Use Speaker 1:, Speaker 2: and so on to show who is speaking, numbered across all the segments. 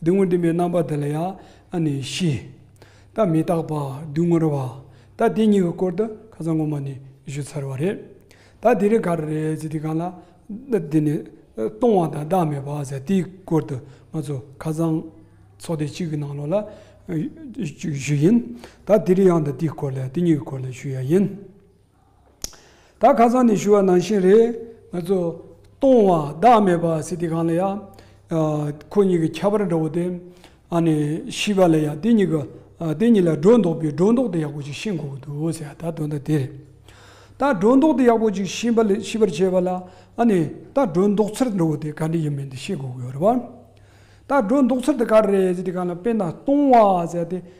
Speaker 1: སྡུག་བསྔལ་འདུན་པའི་རྣམ་པ་དེ་ལ་ཡང་ཨ་ནི་ཤི། ད་མི་རྟག་པ་སྡུག་བསྔལ་བ། ད་དེ་གཉིས་ཀྱི་སྐོར་དུ་ཁ་ཚ་ངོ་མ་ནས་བཞུ་ཚར་བ་རེད། ད་དེ་རིང་ག་རེ་རེད་ཟེར་དུས་གང་ལ་དེ་ནི་སྟོང་བ་དང་བདག་མེད་པ་ཟེར་དེའི་སྐོར་དུ་ང་ཚོ་ཁ་ཚང་ཚོགས་སྡེ་གཅིག་གི་ནང་ལོགས་ལ་བཞུ་ཡིན། ད་དེ་རིང་ཡང་དེའི་སྐོར་ལ་དེ་གཉིས་ཀྱི་སྐོར་ལ་བཞུ་ཡ་ཡིན། ད་ཁ་སང་ནས་ཞུ་བ་ནང་བཞིན་རེད་ང་ཚོ། སྟོང་བ་བདག་མེད་པ་སྲིད་སྟེ་གང་ལ་ཡང། ཁོ་གཉིས་ཀྱི་ཁྱད་པར་འདྲ་བོ་དེ། ཨ་ནི་ཤི་བ་ལ་ཡང་དེ་གཉིས་ཀྱི། དེ་གཉིས་ལ་སྒྲོ་འདོགས་པའི་སྒྲོ་འདོགས་དེ་ཡག་པོ་ཅིག་ཤི་འགོ་གི་འདུག་ཟེར་ཡ་ད་དོན་དག་དེ་རེད། ད་སྒྲོ་འདོགས་དེ་ཡག་པོ་ཅིག་ཤི་བ་ལ་ཤི་བར་བྱས་པ་ལ། ཨ་ནི་ད་སྒྲོ་འདོགས་ཚུལ་འདྲ་བོ་དེ་ག་འདྲ་ཡིན་མིན་དེ་ཤི་འགོ་གི་ཡོད་རེད་བ། ད་སྒྲོ་འདོགས་ཚུལ་དེ་ག་རེ་རེད་ཟེར་དེ་གང་ལ་དཔེར་ན་སྟོང་བ་ཟེར་ཡ་དེ།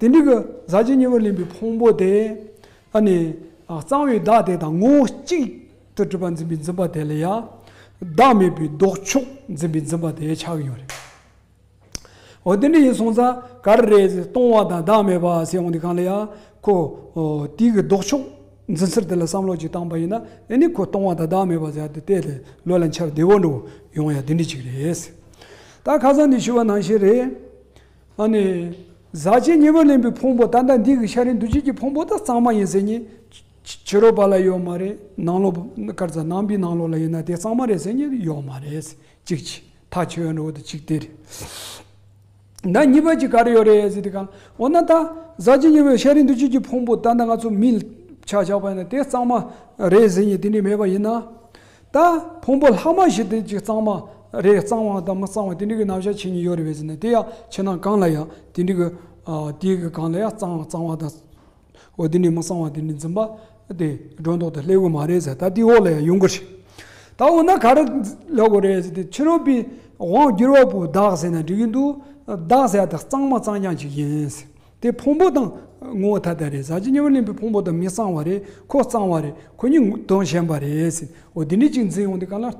Speaker 1: དེ་འདྲའི་གཟའ་བརྗིད་སྙིང་པོར་ལེན་པའི་ཕུང་པོ་དེ་ནི་གཙང་བའི་བདག་དེ་དང་ངོ་བོ་གཅིག་ཏུ་སྒྲུབ་པ་འཛིན་པའི་འཛིན་པ་དེ་ལ་ཡང་བདག་མེད་པའི་ལྡོག་ཕྱོགས་འཛིན་པའི་འཛིན་པ་དེ་ཆགས་ཀྱི་ཡོད་རེད། འོ་དེ་འདྲ་ཡིན་སོང་ཙང་ག་རེ་རེད་སྟོང་བ་དང་བདག་མེད་པ་ཟེར་འོང་དུས་གང་ལ་ཡང་ཁོ་དེའི་གི་ལྡོག་ཕྱོགས་འཛིན་ཚུལ་དེ་ལ་བསམ་བློ་ཅིག་བཏང་པ་ཡིན་ན་ནི་ཁོ་སྟོང་བ་དང་བདག་མེད་པ་ཟེར་དེ་དེ་ལོས་ལ་འཆར་བདེ་བོ་འགྲོ་ཡོང་ཡ་དེ་འདྲ་ཅིག་རེད། ད་ཁ་སང་འདི་ཞུ་བ་ནང་བཞིན་རེད། ཨ་ནི། ཟག་བཅས་གཉེན་པོས་ལེན་པའི་ཕུང་པོ་ད་ལྟ་འདི་གི་ཤ་རིང་འདུ་བྱེད་ཀྱི་ཕུང་པོ་དག་གཙང་མ་ཡིན་ཟེར་ཉིད། ཕྱི་རོལ་པ་ལ་ཡོད་མ་རེད་ནང་ལོག་དཀར་རྩ་ནང་པའི་ནང་ལོག་ལ་ཡོད་ན་དེ་གཙང་མ་རེད་ཟེར་ཉིད་ཡོད་མ་རེད། གཅིག་ཆི་ཐག་ཆོད་ཡོད་འགྲོ་འོ་ད་གཅིག་དེ་རེད། ད་གཉིས་པ་གཅིག་ག་རེ་ཡོད་རེད་ཟེར་དེ་གང་འོ་ན་ད་ཟག་བཅས་གཉེན་པོས་ཤ་རིང་འདུ་བྱེད་ཀྱི་ཕུང་པོ་ད་ལྟ་ང་ཚོ་མིས་ཕྱག་བཞག་པ་ཡིན་ན་དེ་གཙང་མ་རེད་ཟེར་ཉིད་དེ་འདྲས་མེད་པ་ཡིན་ན། ད་ཕུང་པོ་ལྷག་མ་བཞི་དེ་གཅིག་གཙང་མ་རེད་གཙང་བ་དང་མི་གཙང་བ་དེ་འདྲི་གི་རྣམ་གཞག་ཆེ་ཉུང་ཡོད་རེད་བས་ཟེར་ནས་དེ་ཡང་ཕྱི་ནང་གང་ལ་ཡང་དེ་འདྲི་གི་དེའི་གི་གང་ལ་ཡང་གཙང་བ་གཙང་བ་དང་འོ་དེ་འདྲི་མི་གཙང་བ་དེ་འདྲི་འཛིན་པ་དེ་སྒྲོ་འདོགས་དང་སླེབས་གི་མ་རེད་ཟེར་ད་དེའི་འོག་ལ་ཡང་ཡོང་གི་རེད་ད་འོ་ན་ག་རེ་ལེགས་གོ་རེད་ཟེར་ཏེ་ཕྱི་རོལ་པའི་དབང་བསྒྱུར་བ་པོ་བདག་ཟེར་ན་འདྲི་གི་འདུག་བདག་ཟེར་བ་དེ་གཙང་མ་གཙང་རྐྱང་ཅིག་ཡིན་ཟེར། དེ་ཕུང་པོ་དང། ངོ་བོ་ཐ་དད་རེད་ཟ་བྱེད་མཉམ་པར་ལེན་པའི་ཕུང་པོ་དང་མི་གཙང་བ་རེད་ཁོ་གཙང་བ་རེད་ཁོ་གཉིས་དོན་གཞན་པ་རེད་ཟེར་འོ་དེ་འདྲའི་ཅིག་འཛིན་ཡོང་དེ་ག་ལ།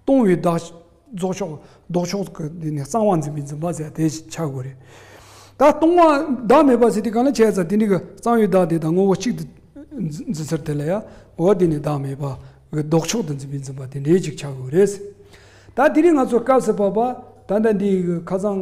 Speaker 1: སྟོང་བའི་བདག། རྫོགས་ཕྱོགས་ལྡོག་ཕྱོགས་ཀྱི་དེ་ནས་གཙང་བ་འཛིན་པའི་འཛིན་པ་ཟེར་དེ་ཆགས་དགོས་རེད། ད་སྟོང་བ་བདག་མེད་པ་ཟེར་དེ་ག་ལ་བྱས་ཙང་དེ་འདྲའི་གི་གཙང་བའི་བདག་དེ་དང་ངོ་བོ་གཅིག་ཏུ། འཛིན་ཟེར་དེ་ལ་ཡ། འོ་དེ་ནས་བདག་མེད་པ། ལྡོག་ཕྱོགས་དུ་འཛིན་པའི་འཛིན་པ་དེ་འདྲའི་ཅིག་ཆགས་དགོས་རེད། ད་དེ་རིང་ང་ཚོ་སྐབས་སུ་བབས་པ། ད་ལྟ་འདིའི་གི་ཁ་གཙང།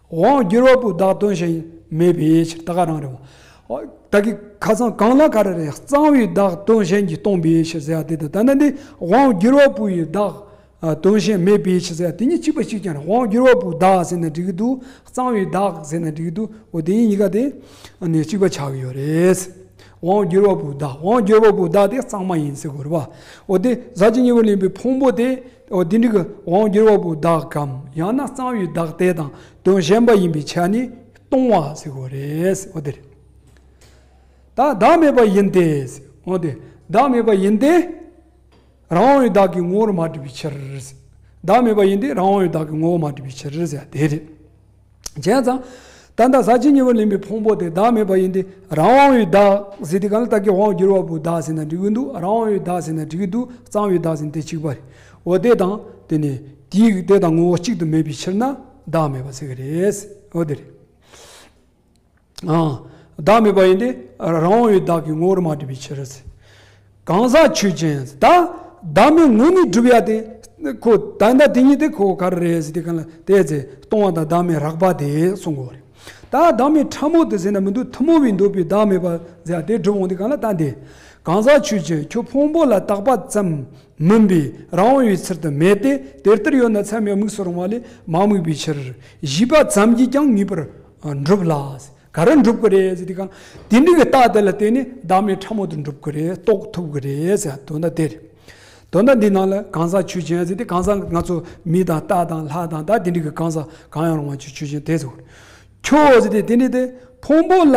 Speaker 1: དབང་བསྒྱུར་བ་པོས་བདག་དོན་བྱེད་མེད་པའི་ཕྱིར་ད་ག་རང་རེད། ད་གིས་ཁ་ཚང་གང་ལ་ག་རེ་རེད་གཙང་བའི་བདག་དོན་བྱེད་ཀྱི་སྟོང་པའི་ཕྱིར་ཟེར་བ་དེ་དང་ད་ནི་འདི་དབང་བསྒྱུར་བ་པོས་བདག་དོན་བྱེད་མེད་པའི་ཕྱིར་ཟེར་བ་དེ་གཉིས་གཅིག་པ་གཅིག་ཀྱང་རེད་དབང་བསྒྱུར་བ་པོས་བདག་ཟེར་ན་འགྲིག་གི་འདུག་གཙང་བའི་བདག་ཟེར་ན་འགྲིག་གི་འདུག་འོ་དེ་གཉིས་གཉིས་ཀ་དེ་གཅིག་པ་ཆགས་ཀྱི་ཡོད་རེད། དབང་བསྒྱུར་བ་པོས་བདག་དབང་བསྒྱུར་བ་པོས་བདག་དེ་གཙང་མ་ཡིན་ཟེར་དགོས་རེད་པ། འོ་དེ་ཟག་བཅས་གཉིས་པོ་ལེན་པའི་ཕུང་པོ་དེ། འོ་དེ་འདྲི་གི་དབང་བསྒྱུར་བ་པོའི་བདག་གམ་ཡང་ན་གཙང་བའི་བདག་དེ་དང་དོན་གཞན་པ་ཡིན་པའི་ཆ་ནས་སྟོང་བ་ཟེར་བ་རེད། འོ་དེ་རེད། ད་བདག་མེད་པ་ཡིན་ཏེ། འོ་དེ་བདག་མེད་པ་ཡིན་ཏེ། རང་དབང་བའི་བདག་གི་ངོ་བོར་མ་བསྒྲིབས་པའི་ཕྱིར། བདག་མེད་པ་ཡིན་ཏེ་རང་དབང་བའི་བདག་གི་ངོ་བོར་མ་བསྒྲིབས་པའི་ཕྱིར་ཟེར་བ་དེ་རེད། བྱས་ཙང། ད་ལྟ་ཟག་བཅས་གཉིས་པོ་ལེན་པའི་ཕུང་པོ་དེ་བདག་མེད་པ་ཡིན་ཏེ། རང་དབང་བའི་བདག། ཟེར་དེ་གང་ལ་བཏགས་ཀྱི་དབང་བསྒྱུར་བ་པོའི་བདག་ཟེར་ན་འགྲིག་གི་འདུག་རང་དབང་བའི་བདག་ཟེར་ན་འགྲིག་གི་འདུག་གཙང་བའི་བདག་ཟེར་ན་དེ་གཅིག་པ་རེད། འོ་དེ་དང་དེ་ནི། དེའི་དེ་དང་ངོ་བོ་གཅིག་ཏུ་མེད་པའི་ཕྱིར་ན་བདག་མེད་པ་ཟེར་གི་རེད། འོ་དེ་རེད། བདག་མེད་པ་ཡིན་ཏེ། རང་དབང་བའི་བདག་གི་ངོ་བོར་མ་གྲུབ་པའི་ཕྱིར། གང་ཟག་ཆོས་ཅན། བདག་མེད་ངོ་ནི་བསྒྲུབ་ཡ་སྟེ། ཁོ། ད་ལྟ་དེ་ཉིད་དེ་ཁོ་བོ་ག་རེ་རེད་ཟེར་ཏེ་གང་ལ་དེ་ཚེ་སྟོང་བ་དང་བདག་མེད་རགས་པ་དེ་གསུང་དགོས་པ་རེད། ད་བདག་མེད་ཕྲ་མོ་དེ་ཟེར་ན་མི་འདུག་ཐུན་མོང་བའི་འདོད་པའི་བདག་མེད་པ་ཟེར་ཡ་དེ་བསྒྲུབ་འོང་སྟེ་གང་ལ་ལྟ་འདི། གང་ཟག་ཆོས་ཅན་ཁྱོད་ཕུང་པོ་ལ་བཏགས་པ་ཙམ་མིན་པས་རང་དབང་བའི་ཚུལ་དུ་མེད་དེ་དེ་ལྟར་ཡོད་ན་མཚན་མའི་དམིགས་སུ་རུང་བ་ལས་མ་དམིགས་པའི་ཕྱིར། བཞི་པ་ཙམ་གྱིས་ཀྱང་ངེས་པར། འགྲུབ་ལ། ག་རེ་འགྲུབ་ཀྱི་རེད་ཟེར་དུས་དེ་འདྲི་བའི་རྟགས་དེ་ལ་བརྟེན་ནས་བདག་མེད་ཕྲ་མོ་དུ་འགྲུབ་ཀྱི་རེད་རྟོགས་ཐུབ་ཀྱི་རེད་ཟེར་དོན་དག་དེ་རེད། དོན་དག་འདི་ནང་ལ་གང་ཟག་ཆོས་ཅན་ཟེར་ཏེ་གང་ཟག་ང་ཚོ་མི་དང་རྟ་དང་ལྷ་དང་བདག་དེ་འདྲི་གི་གང་ཟག་གང་ཡང་རུང་བ་ཆོས་ཅན་དེ་ཟེར། ཁྱོད་ཟེར་ཏེ་དེ་འདྲི་དེ་ཕུང་པོ་ལ་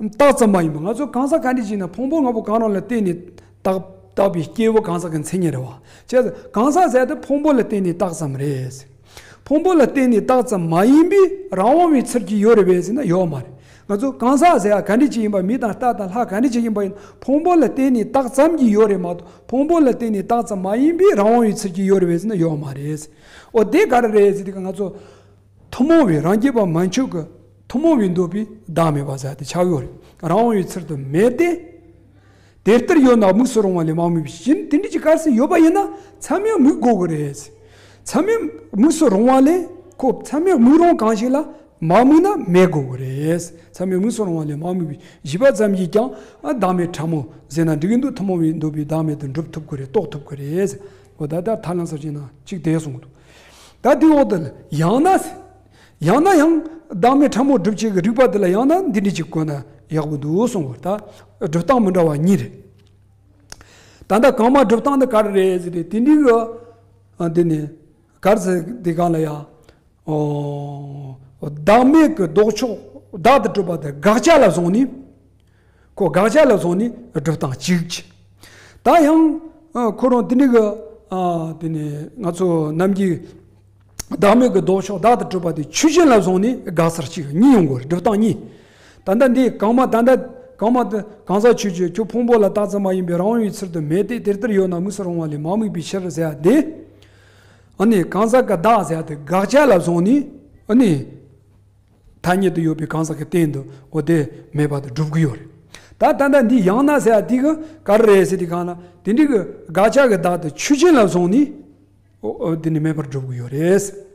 Speaker 1: རྟགས་ཙམ་མ་ཡིན་པར་ང་ཚོ་གང་ཟག་གང་འདྲི་བྱེད་ན་ཕུང་པོ་ལྔ་པོ་གང་རུང་ལ་བརྟེན་ནས་རྟགས་པའི་སྐྱེས་བུ་གང་ཟག་གི་མཚན་ཉིད་རེད་བ། ཁྱོད་ཀྱིས་གང་ཟག་ཟེར་དེ་ཕུང་པོ་ལ་བརྟེན་ནས་རྟགས་ཙམ་རེད་ཟེར། ཕུང་པོ་ལ་བརྟེན་ནས་བཏགས་ཙམ་མ་ཡིན་པས་རང་དབང་བའི་ཚུལ་གྱིས་ཡོད་རེད་བས་ཟེར་ན་ཡོད་མ་རེད། ང་ཚོ་གང་ཟག་ཟེར་ཡ་ག་འདྲི་གཅིག་ཡིན་པ་མི་དང་རྟ་དང་ལྷ་ག་འདྲི་གཅིག་ཡིན་པ་ཡིན་ན་ཕུང་པོ་ལ་བརྟེན་ནས་བཏགས་ཙམ་གྱིས་ཡོད་རེད་མ་གཏོགས་ཕུང་པོ་ལ་བརྟེན་ནས་བཏགས་ཙམ་མ་ཡིན་པས་རང་དབང་བའི་ཚུལ་གྱིས་ཡོད་རེད་བས་ཟེར་ན་ཡོད་མ་རེད། འོ་དེ་ག་རེ་རེད་ཟེར་དུས་ང་ཚོ་ཐུན་མོང་བའི་རང་རྒྱལ་བ་མ་མཆོག་གི་ཐུན་མོང་བའི་འདོད་པས་བདག་མེད་པ་ཟེར་ཡ་དེ་ཆགས་ཡོད་རེད་རང་དབང་བའི་ཚུལ་དུ་མེད་དེ། དེར་ལྟར་ཡོད་ན་དམིགས་སུ་རུང་བ་ལས་མ་དམིགས་པའི་བཞིན་དེ་འདྲ་གྱི་སྐལ་སྲིད་ཡོད་པ་ཡིན་ན་མཚམས་ཡོད་དམིགས་དགོས་ཀྱི་རེད། མཚམས་ཡོད་དམིགས་སུ་རུང་བ་ལས་ཁོ་མཚམས་ཡོད་དམིགས་རུང་གང་ཞིག་ལ་མ་དམིགས་ན་མེད་དགོས་ཀྱི་རེད། མཚམས་ཡོད་དམིགས་སུ་རུང་བ་ལས་མ་དམིགས་པའི་བཞི་པ་ཙམ་གྱིས་ཀྱང་བདག་མེད་ཕྲ་མོ་ཟད་ན་འགྲིག་གི་འདུག་ཐུན་མོང་བའི་འདོད་པའི་བདག་མེད་དུ་འགྲུབ་ཐུབ་ཀྱི་རེད་རྟོགས་ཐུབ་ཀྱི་རེད། འོ་ད་ལྟར་ཐར་ལམ་ཟེར་བ་ཅིག་ན་གཅིག་དེ་གསུངས་འདུག་ད་དེའི་འོག་ཏུ་ཡང་ན། ཡང་ན་ཡང་བདག་མེད་ཕྲ་མོ་སྒྲུབ་བྱེད་ཀྱི་རིགས་པ་འདི་ལ་ཡང་ན་འདི་འདྲི་ཅིག་བཀོད་ན་ཡག་པོ་འདུག་གསུངས་པ་ལྟར་སྒྲུབ་སྟངས་མི་འདྲ་བ་གཉིས་རེད། ད་ལྟ་གང་མ་སྒྲུབ་སྟངས་འདི་ག་རེ་རེད་ཟེར་ཏེ་དེ་འདྲི་གི་འདི་ནི་གར་ཟེར་དེ་ག་ལ་ཡ། བདག་མེད་ཀྱི་ལྡོག་ཕྱོགས་བདག་ཏུ་སྤྲུལ་པ་དེ་དགག་བྱ་ལ་བཟུང་ནས། ཁོ་དགག་བྱ་ལ་སོགས་ནི་སྒྲུབ་དང་གཅིག། ད་ཡང་ཁོ་རང་དེ་ནི་གི། དེ་ནི་ང་ཚོ་རྣམས་ཀྱི། བདག་མེད་ཀྱི་ལྡོག་ཕྱོགས་བདག་ཏུ་སྤྲུལ་པ་དེ་ཆོས་ཅན་ལ་སོགས་ནི་དགག་བྱར་གཅིག་གཉིས་ཡོང་དགོས་སྒྲུབ་དང་གཉིས། ད་ལྟ་འདི་གང་མ་ད་ལྟ་གང་མ། གང་ཟག་ཆོས་ཀྱི་ཁྱོད་ཕུང་པོ་ལ་བཏགས་ཙམ་མ་ཡིན་པས་རང་ཡོད་ཚུལ་དུ་མེད་དེ་དེ་ལྟར་ཡོད་ན་དམིགས་སུ་རུང་བ་ལས་མ་དམིགས་པའི་ཕྱིར་ཟེར་བ་དེ། ཨ་ནི་གང་ཟག་གི་བདག་ཟེར་བ་དེ་དགག་བྱ་ལ་སོགས་ནི་ཨ་ནི། ཐ་སྙད་དུ་ཡོད་པའི་གང་ཟག་གི་སྟེང་དུ་ཨོ་དེ་མེད་པ་དེ་སྒྲུབ་ཀྱི་ཡོད་རེད། ད་ལྟ་ལྟ་འདི་ཡང་ན་ཟེར་ཡ་དེ་གི་ག་རེ་རེད་ཟེར་དེ་གང་ན་དེ་འདྲི་གི་དགག་བྱ་གི་བདག་དེ་ཆོས་ཅན་ལ་བཟུང་ནས་ཨོ་དེ་ནི་མེད་པར་སྒྲུབ་ཀྱི་ཡོད་རེད།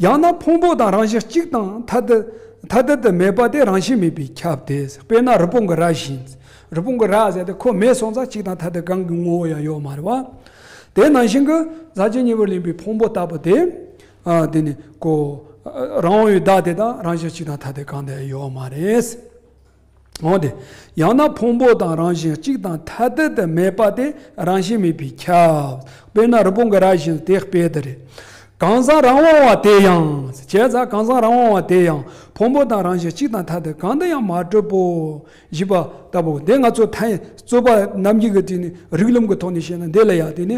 Speaker 1: ཡང་ན་ཕུང་པོ་དང་རང་བཞིན་གཅིག་དང་ཐ་དད་ཐ་དད་དུ་མེད་པ་དེ་རང་བཞིན་མེད་པའི་ཁྱབ་དེ་དཔེར་ན་རི་བོང་གི་རྭ་བཞིན་རི་བོང་གི་རྭ་ཟེར་དེ་ཁོ་མེད་སོང་ཙང་གཅིག་དང་ཐ་དད་གང་གི་ངོ་བོ་ཡང་ཡོད་མ་རེད་བ། དེ་ནང་བཞིན་གི་ཟག་བཅས་གཉིས་པོར་ལེན་པའི་ཕུང་པོ་ལྟ་བུ་དེ་དེ་ནི་ཀོ། རང་འོད་བདག་དེ་དང་རང་བཞིན་གཅིག་དང་ཐ་དད་གང་དེ་ཡོད་བ་མ་རེད། འོན་ཏེ། ཡང་ན་ཕུང་པོ་དང་རང་བཞིན་གཅིག་དང་ཐ་དད་དུ་མེད་པ་དེ་རང་བཞིན་མེད་པའི་ཁྱབ། དཔེར་ན་རི་བོང་གི་རྭ་བཞིན་དེ་དཔེ་དེ་རེད། གང་ཟག་རང་དབང་བ་དེ་ཡང། བྱས་ཙང་གང་ཟག་རང་དབང་བ་དེ་ཡང་ཕུང་པོ་དང་རང་བཞིན་གཅིག་དང་ཐ་དད་གང་དུ་ཡང་མ་གྲུབ་བོ། བཞི་པ་ལྟ་བུ། འདི་ང་ཚོས་ཐལ། རྩོད་པ་རྣམས་ཀྱིས་དེ་ནི་རིགས་རློམ་གྱི་ཐོག་ནས་བཤད་ན་འདི་ལ་ཡང་དེ་ནི།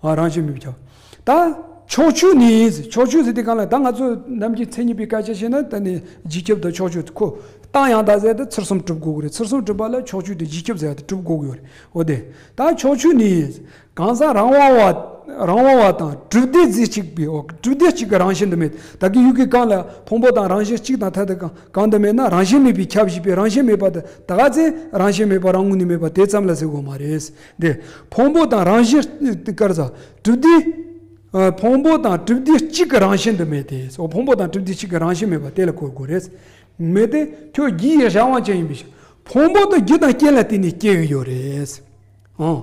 Speaker 1: ཨ་རང་བཞིན་མི་བྱ། ད། ཕྱོགས་བཅུ་ནི། ཕྱོགས་བཅུ་ཟེར་དུས་གང་ལ་ད་ང་ཚོ་རྣམས་ཀྱིས་མཚན་ཉིད་པའི་སྐད་ཆ་བཤད་ན་ད་ནི་བརྗིད་ཁྱབ་དང་ཕྱོགས་བཅུ་ཁོ། རྟགས་ཡང་དག་ཟད་དེ་ཚུར་གསུམ་གྲུབ་དགོས་ཀྱི་རེད་ཚུར་གསུམ་གྲུབ་པ་ལ་ཕྱོགས་བཅུ་དེ་བརྗིད་ཁྱབ་ཟད་དེ་གྲུབ་དགོས་ཀྱི་ཡོད་རེད་འོ་དེ། ད་ཕྱོགས་བཅུ་ནི། གང་ཟག་རང་དབང་བ། རང་དབང་བ་དང་གྲུབ་བདེ་རྫས་གཅིག་པའི་འོག་གྲུབ་བདེ་གཅིག་གི་རང་བཞིན་དུ་མེད་ད་གི་ཡུལ་གྱི་གང་ལ་ཕུང་པོ་དང་རང་བཞིན་གཅིག་དང་ཐ་དད་ཀྱང་གང་དུ་མེད་ན་རང་བཞིན་མེད་པའི་ཁྱབ་བཞི་པའི་རང་བཞིན་མེད་པ་དེ་ད་ག་ཚད་རང་བཞིན་མེད་པ་རང་ངོ་ནས་མེད་པ་དེ་ཙམ་ལ་ཟེར་དགོས་མ་རེད། འདི། ཕུང་པོ་དང་རང་བཞིན་ཏི་ཀར་ཛ། གྲིབ་སྡེ། ཕུང་པོ་དང་གྲིབ་སྡེ་གཅིག་གི་རང་བཞིན་དུ་མེད་དེ། སོ་ཕུང་པོ་དང་གྲིབ་སྡེ་གཅིག་གི་རང་བཞིན་མེད་པ་དེ་ལ་གོ་དགོས་རེད། མེད་དེ། ཁྱོད་རྒྱུ་ཡི་གཞན་དབང་ཅན་ཡིན་པའི་ཕྱིར། ཕུང་པོ་དང་རྒྱུ་དང་རྐྱེན་ལ་བརྟེན་ནས་སྐྱེ་གི་ཡོད་རེད། འོང།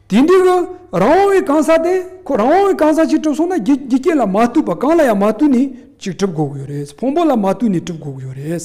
Speaker 1: དེ་འདྲའི་གི་རང་དབང་བའི་གང་ཟག་དེ། ཁོ་རང་དབང་བའི་གང་ཟག་ཅིག་གྲུབ་སོང་ན་རྒྱུ་རྐྱེན་ལ་མ་ལྟོས་པར་གང་ལ་ཡང་མ་ལྟོས་ནས་ཅིག་གྲུབ་དགོས་ཀྱི་ཡོད་རེད། ཕུང་པོ་ལ་མ་ལྟོས་ནས་གྲུབ་དགོས་ཀྱི་ཡོད་རེད།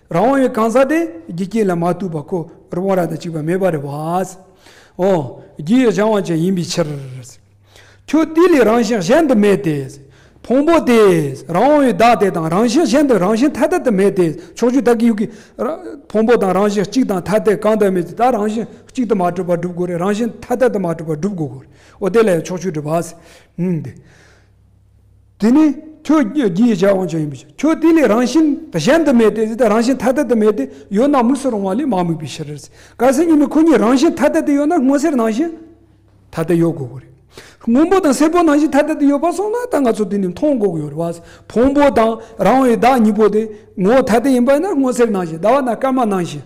Speaker 1: རང་དབང་བའི་གང་ཟག་དེ་རྒྱུ་རྐྱེན་ལ་མ་གཏུགས་པར་ཁོ་རང་དབང་རང་དང་གཅིག་པ་མེད་པར་རེ་བ། འོ། རྒྱུ་ཡི་གཞན་དབང་ཅན་ཡིན་པའི་ཕྱིར། ཁྱོད་དེ་ལས་རང་བཞིན་གཞན་དུ་མེད་དེ། ཕུང་པོ་དེ། རང་དབང་བའི་བདག་དེ་དང་རང་བཞིན་གཞན་དུ་རང་བཞིན་ཐ་དད་དུ་མེད་དེ། ཕྱོགས་བཅུ་ད་གི་ཡུག་གི། ཕུང་པོ་དང་རང་བཞིན་གཅིག་དང་ཐ་དད་གང་དུ་མེད་དེ་ད་རང་བཞིན་གཅིག་དུ་མ་གྲུབ་པར་སྒྲུབ་དགོས་རེ་རང་བཞིན་ཐ་དད་དུ་མ་གྲུབ་པར་སྒྲུབ་དགོས། འོ་དེ་ལ་ཡང་ཕྱོགས་བཅུ་སྒྲུབ་པ། དེ་ནི་ཁྱོད་ཀྱིས་བྱ་འོང་བྱ་ཡིན་པའི་ཕྱིར། ཁྱོད་དེ་ལས་རང་བཞིན་གཞན་དུ་མེད་དེ། དེ་ལྟར་རང་བཞིན་ཐ་དད་དུ་མེད་དེ་ཡོད་ན་དམིགས་སུ་རུང་བ་ལས་མ་དམིགས་པའི་ཕྱིར། གལ་སྲིད་གཉིས་མེད་ཁོ་གཉིས་རང་བཞིན་ཐ་དད་དུ་ཡོད་ན་སྔོ་སེར་ནང་བཞིན་ཐ་དད་ཡོད་དགོས་ཀྱི་རེད། སྔོན་པོ་དང་སེར་པོ་ནང་བཞིན་ཐ་དད་དུ་ཡོད་པར་སོང་ན་ད་ང་ཚོ་དེ་ནི་མཐོང་དགོས་ཀྱི་ཡོད་རེད། ཕུང་པོ་དང་རང་བའི་བདག་གཉིས་པོ་དེ་ངོ་བོ་ཐ་དད་ཡིན་པ་ཡིན་ན་སྔོ་སེར་ནང་བཞིན་ཟླ་བ་དང་སྐར་མ་ནང་བཞིན།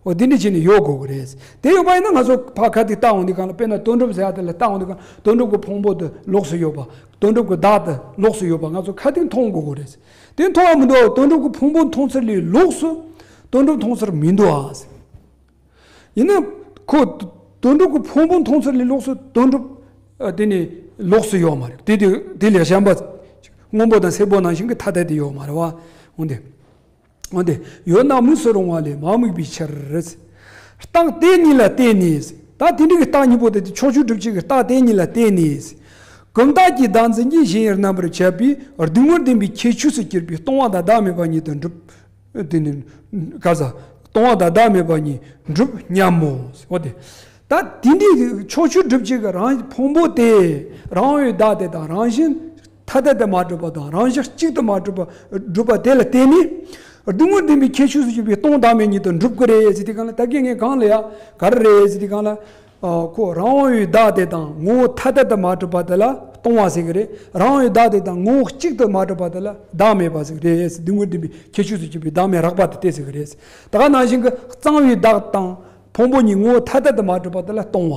Speaker 1: འོ་དེ་འདྲའི་ཆེད་ནས་ཡོད་དགོས་ཀྱི་རེད། དེ་ཡོད་པ་ཡིན་ན་ང་ཚོ་ཕ་ཁ་ཐིག་བཏགས་འོང་དུས་གང་ལ་དཔེར་ན་དོན་གྲུབ་ཟེར་བ་དེ་ལ་བཏགས་འོང་དུས་གང་དོན་གྲུབ་ཀྱི་ཕུང་པོ་དེ་ལོགས་སུ་ཡོད་པ། དོན་གྲུབ་ཀྱི་བདག་དེ་ལོགས་སུ་ཡོད་པ་ང་ཚོ་ཁ་ཐིག་མཐོང་དགོས་ཀྱི་རེད། དེ་མཐོང་བ་མི་འདུག་དོན་གྲུབ་ཀྱི་ཕུང་པོ་མཐོང་ཚུལ་ལས་ལོགས་སུ་དོན་གྲུབ་མཐོང་ཚུལ་མི་འདུག་ཨ། ཡིན་ན་ཁོ་དོན་གྲུབ་ཀྱི་ཕུང་པོ་མཐོང་ཚུལ་ལས་ལོགས་སུ་དོན་གྲུབ་དེ་ནི་ལོགས་སུ་ཡོད་མ་རེད། དེ་དེ་ལས་གཞན་པ་སྔོན་པོ་དང་སེར་པོ་ནང་བཞིན་གྱི་ཐ་དད་དེ་ཡོད་མ་རེད་བ། འོན་ཏེ། འོན་ཏེ་ཡོད་ན་དམིགས་སུ་རུང་བ་ལས་མ་དམིགས་པའི་ཕྱིར། རྟགས་དེ་ཉིད་ལ་བརྟེན་ནས་ད་དེ་འདྲ་གི་རྟགས་གཉིས་པོ་དེ་ཕྱོགས་བཅུ་སྒྲུབ་བྱེད་ཀྱི་རྟགས་དེ་ཉིད་ལ་བརྟེན་ནས། གུམ་བརྟགས་ཀྱི་བདག་འཛིན་གྱི་གཞན་ཡང་རྣམ་པར་ཆད་པའི་སྡུག་བསྔལ་བདེན་པའི་ཁྱད་ཆོས་སུ་གྱུར་པའི་སྟོང་བ་དང་བདག་མེད་པ་ཉིད་དུ་འགྲུབ། སྟོང་བ་དང་བདག་མེད་པ་ཉིད་འགྲུབ་སྙམ་མོ། འོ་དེ་ད་དེ་འདྲའི་ཕྱོགས་བཅུ་སྒྲུབ་བྱེད་ཀྱི་རང་ཕུང་པོ་དེ་རང་འོད་བདག་དེ་དང་རང་བཞིན། ཐ་དད་དུ་མ་གྲུབ་པ་དང་རང་བཞག་གཅིག་ཏུ་མ་གྲུབ་པ་སྒྲུབ་པ་དེ་ལ་བརྟེན་ནས། སྡུག་བསྔལ་བདེན་པའི་ཁྱད་ཆོས་སུ་གྱུར་པའི་སྟོང་བདག་མེད་ཉིད་དུ་འགྲུབ་ཀྱི་རེད་ཟེར་དུས་གང་ལ་ད་གེ་ངས་གང་ལ་ཡ་ག་རེ་རེད་ཟེར་དུས་གང་ལ། ཁོ་རང་དབང་བའི་བདག་དེ་དང་ངོ་བོ་ཐ་དད་དུ་མ་གྲུབ་པ་དེ་ལ་སྟོང་བ་ཟེར་གྱི་རེད། རང་དབང་བའི་བདག་དེ་དང་ངོ་བོ་གཅིག་ཏུ་མ་གྲུབ་པ་དེ་ལ་བདག་མེད་པ་ཟེར་གྱི་རེད་ཟེར་སྡུག་བསྔལ་བདེན་པའི་ཁྱད་ཆོས་སུ་གྱུར་པའི་བདག་མེད་རགས་པ་དེ་སྟེ་ཟེར་གྱི་རེད། ད་ག་ནང་བཞིན་གྱི་གཙང་བའི་བདག་དང་ཕུང་པོ་གཉིས་ངོ་བོ་ཐ་དད་དུ་མ་གྲུབ་པ་དེ་ལ་སྟོང་བ།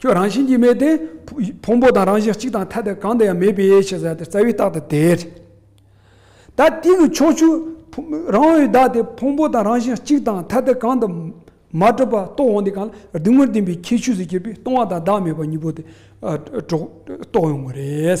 Speaker 1: ཁྱོད་རང་བཞིན་གྱིས་མེད་དེ། ཕུང་པོ་དང་རང་བཞིན་གཅིག་དང་ཐ་དད་གང་དུ་ཡང་མེད་པས་ཞེས་ཟེར་ཏེ་རྩ་བའི་རྟགས་དེ་དེས། ད་ཏིག་གི་ཕྱོགས་བཅུ། རང་འོད་བདག་དེ་ཕུང་པོ་དང་རང་བཞིན་གཅིག་དང་ཐ་དད་གང་དུ། མ་གྲུབ་པ་རྟོགས་འོང་དེ་གང་ལ་རྡུལ་ངོར་ལྡན་པའི་ཁྱད་ཆོས་སུ་གྱུར་པས་སྟོང་བ་དང་བདག་མེད་པ་གཉིས་པོ་དེ། རྟོགས་ཡོང་བ་རེད།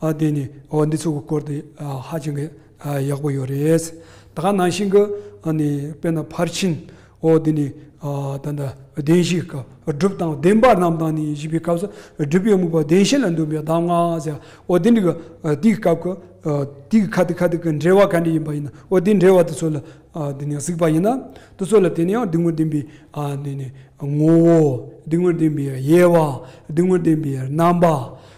Speaker 1: ཨ་དེ་ནི་འོ་འདི་ཚོ་གི་སྐོར་དེ་ཧ་ཅང་གི་ཡག་པོ་ཡོད་རེད། ད་ག་ནང་བཞིན་གི་ཨ་ནི་དཔེར་ན་ཕར་ཕྱིན་འོ་དེ་ནི་ད་ལྟ་བདེན་བཞིའི་སྐབས་སྒྲུབ་དང་བདེན་པ་རྣམས་དང་ནི་བཞི་པའི་སྐབས་སུ་སྒྲུབ་པའི་དམིགས་པ་བདེན་བཞི་ལ་འདུན་པའི་གདམས་ངག་ཟེར་འོ་དེ་འདི་གི་དེའི་སྐབས་ཀྱི་དེའི་ཁ་དེ་ཁ་དེ་གི་འབྲེལ་བ་ག་འདྲས་ཡིན་པ་ཡིན་ན་འོ་དེའི་འབྲེལ་བ་དེ་ཚོ་ལ་དེ་ནི་གཟིགས་པ་ཡིན་ན་དེ་ཚོ་ལ་དེ་ནི་ཡང་སྡིགས་མོར་ལྡན་པའི་ཨ་དེ་ནི་ངོ་བོ་སྡིགས་མོར་ལྡན་པའི་དབྱེ་བ་སྡིགས་མོར་ལྡན་པའི་རྣམ་པ་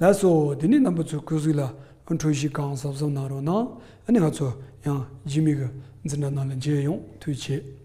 Speaker 1: ལགས་སོ། དེ་ནས་རྣམ་པ་ཚོའི་སྐུ་གཟུགས་ལ་འཁྲུལ་གཞི་གང་གཟབ་གཟབ་གནང་རོགས་གནང། ཨ་ནི་ང་ཚོ་ཡང་སྦྱིན་མི་གི་འཛིན་གྲྭ་ནང་ལ་མཇལ་ཡོང་དུས་བྱེད།